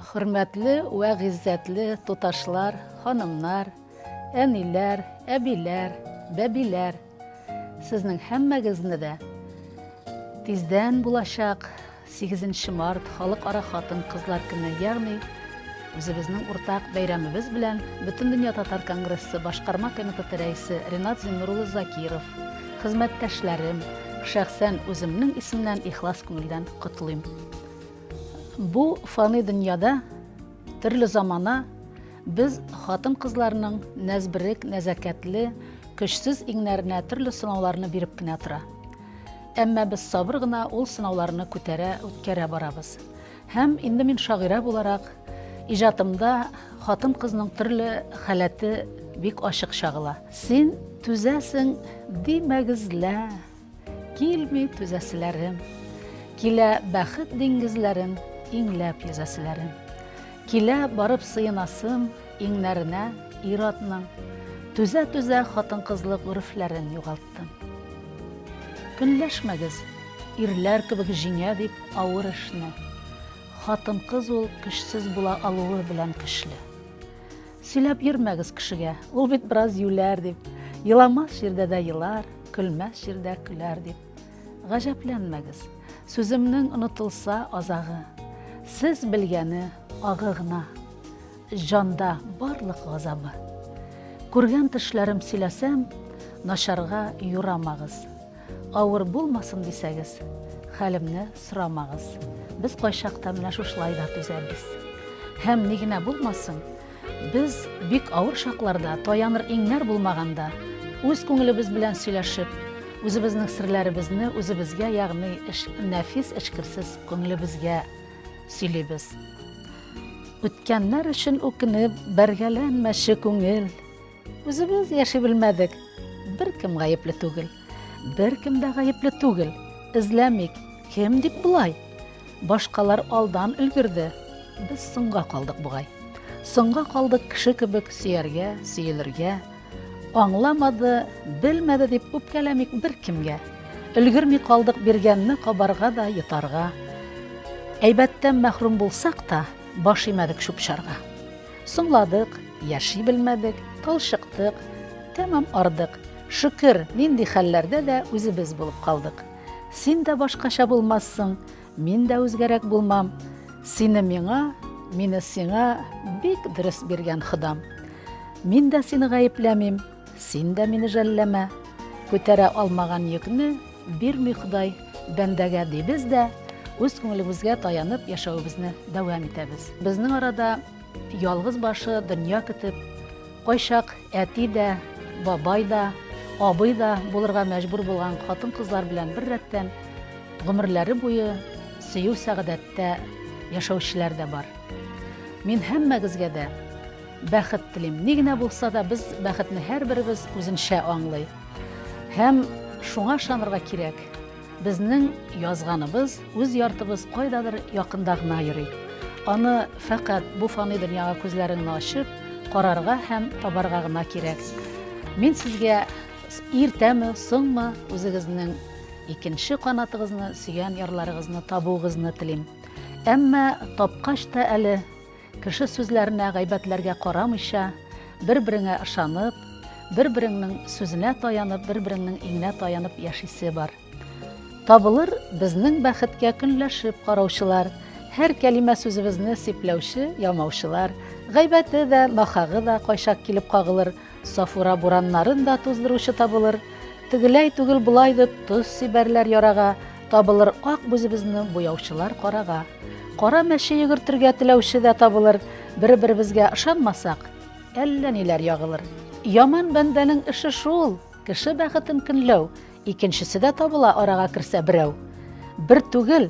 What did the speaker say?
Хөрмәтле вә гыйззәтле туташлар, ханымнар, әниләр, әбиләр, бәбиләр. Сезнең һәммәгезне дә тиздән булачак Сигезенче март, Халыкара хатын-кызлар көне, ягъни үзебезнең уртак бәйрәмебез белән Бөтендөнья татар конгрессы башкарма комитеты рәисе Ренат Зиннур улы Закиров, хезмәттәшләрем, шәхсән үземнең исемнән ихлас күңелдән котлыйм. Бу фани дөньяда төрле замана без хатын-кызларның нәзберек, нәзәкәтле, көчсез иңнәренә төрле сынауларны биреп кенә тора. Әмма без сабыр гына ул сынауларны күтәрә, үткәрә барабыз. Һәм инде мин шагыйрә буларак, иҗатымда хатын-кызның төрле халәте бик ачык чагыла. Син түзәсең, димәгезлә, килми түзәселәрем. Килә бәхет диңгезләрен иңләп йөзәселәрем. Килә барып сыенасым иңнәренә ир-атның. Түзә-түзә хатын-кызлык үрефләрен югалтып. кайттым. Көнләшмәгез, ирләр кебек җиңә дип авыр эшне. Хатын-кыз ул көчсез була алуы белән көчле. Сөйләп йөрмәгез кешегә, ул бит бераз юләр дип. Еламас җирдә дә елар, көлмәс җирдә көләр дип. Гаҗәпләнмәгез. Сүземнең онытылса азагы. Сез белгәне агы гына. Җанда барлык газабы. Күргән төшләрем сөйләсәм, Начарга юрамагыз. Авыр булмасын дисәгез, Хәлемне сорамагыз. Без кайчакта менә шушылай да түзәбез. Һәм ни генә булмасын, без бик авыр чакларда, таяныр иңнәр булмаганда, үз күңелебез белән сөйләшеп, үзебезнең серләребезне үзебезгә, ягъни нәфис эчкерсез күңелебезгә сөйлибез. Үткәннәр өчен үкенеп, бәргәләнмәче күңел. Үзебез яши белмәдек, беркем гаепле түгел. Беркем дә гаепле түгел. Эзләмик, кем дип болай? Башкалар алдан өлгерде, без соңга калдык бугай. Соңга калдык кеше кебек сөяргә, сөелергә, Аңламады, белмәде дип үпкәләмик беркемгә. Өлгерми калдык биргәнне кабарга да, йотарга. Әйбәттән мәхрүм булсак та, баш имәдек чүп-чарга. Соңладык, яши белмәдек, талчыктык, тәмам ардык. Шөкер, нинди хәлләрдә дә үзебез булып калдык. Син дә башкача булмассың, Мин дә үзгәрәк булмам, Сине миңа, мине сиңа Бик дөрес биргән Ходам. Мин дә сине гаепләмим, Син дә мине жәлләмә. Күтәрә алмаган йөкне Бирми Ходай бәндәгә, дибез дә үз күңелебезгә таянып яшәвебезне дәвам итәбез. Безнең арада Ялгыз башы дөнья көтеп, кайчак әти дә, бабай да, абый да булырга мәҗбүр булган хатын-кызлар белән бер рәттән гомерләре буе сөю сәгадәттә яшәүчеләр дә бар. Мин һәммәгезгә дә бәхет телим. Ни генә булса да без бәхетне һәрберебез үзенчә аңлый. Һәм шуңа ышанырга кирәк. Безнең язганыбыз үз яртыбыз кайдадыр якында гына йөри. Аны фәкать бу фани дөньяга күзләреңне ачып, карарга һәм табарга гына кирәк. Мин сезгә иртәме, соңмы үзегезнең икенче канатыгызны, сөйгән ярларыгызны табуыгызны телим. Әмма тапкач та әле Кеше сүзләренә, гайбәтләргә карамыйча, бер-береңә ышанып, бер-береңнең сүзенә таянып, бер-береңнең иңенә таянып яшисе бар. Табылыр безнең бәхеткә көнләшеп караучылар, һәр кәлимә сүзебезне сипләүче, ямаучылар, гайбәте дә, нахагы да кайчак килеп кагылыр, Сафура бураннарын да туздыручы табылыр, Тегеләй түгел болай дип тоз сибәрләр ярага, Табылыр ак бүзебезне буяучылар карага. Кара мәче йөгертергә теләүче дә табылыр, Бер-беребезгә ышанмасак, әллә ниләр ягылыр. Яман бәндәнең эше шул, кеше бәхетен көнләү, Икенчесе дә табыла арага керсә берәү. Бер түгел,